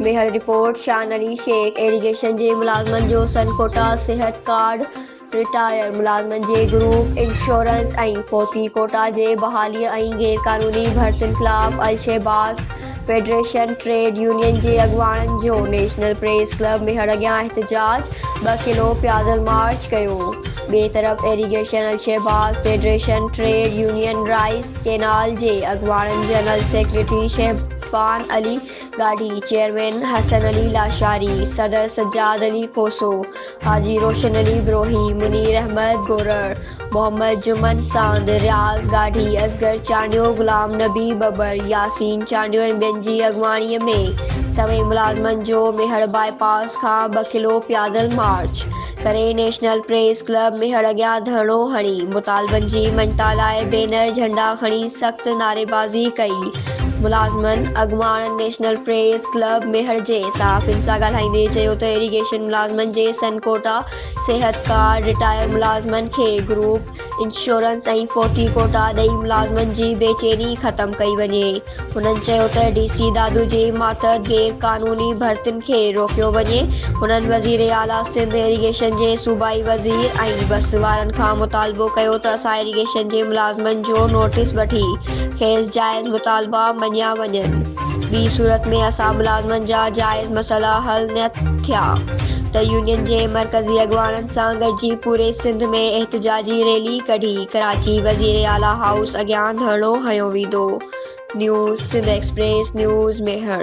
Mehar report, Shan Ali Shaikh irrigation جي ملازمن جو سن ڪوٽا صحت ڪارڊ، رٽائرڊ ملازمن جي گروپ انشورنس ۽ فوتي ڪوٽا جي بحالي ۽ غيرقانوني ڀرتين خلاف الشهباز فيڊريشن ٽريڊ يونين جي اڳواڻن جو نيشنل پريس ڪلب ميهڙ اڳيان احتجاج، ٻه ڪلو پيادل مارچ ڪيو، ٻئي طرف irrigation Alshahbaz federation trade union rice canal جي اڳواڻن جنرل سيڪريٽري شهبان علي ڳاڙهي، چيئرمين حسن علي لاشاري، صدر سجاد علي کوسو، حاجي روشن علي بروهي، منير احمد گورڙ، محمد جمن ساند، رياض گاڙهي، اصغر چانڊيو، غلام نبي ٻٻر، ياسين چانڊيو ۽ ٻين جي اڳواڻي ۾ سوين ملازمن جو ميهڙ باء پاس کان ٻه ڪلو پيادل مارچ ڪري نيشنل پريس ڪلب ميهڙ اڳيان ڌرڻو هڻي مطالبن جي مڃتا لاء بينر جهنڊا کڻي سخت نعريبازي ڪئي. ملازمن اڳواڻن نيشنل پريس ڪلب ميهڙ جي صحافين سان ڳالهائيندي چيو ته ايريگيشن ملازمن جي سن ڪوٽا، صحت ڪارڊ، رٽائر ملازمن کي گروپ انشورنس ۽ فوتي ڪوٽا ڏئي ملازمن جي بي چيني ختم ڪئي وڃي. هنن چيو ته ڊي سي دادو جي ماتحت غير قانوني ڀرتين کي روڪيو وڃي. هنن وزير اعليٰ سنڌ، ايريگيشن جي صوبائي وزير ۽ بس وارن کان مطالبو ڪيو ته اسان ايريگيشن جي ملازمن جو نوٽيس وٺي کيس جائز مطالبا مڃيا وڃن، ٻي صورت ۾ اسان ملازمن جا جائز مسئلا حل نه ٿيا ته يونين جي مرڪزي اڳواڻن سان گڏجي پوري سنڌ ۾ احتجاجي ريلي ڪڍي ڪراچي وزير اعليٰ هائوس اڳيان ڌرڻو هنيو ويندو news Sindh express news Mehar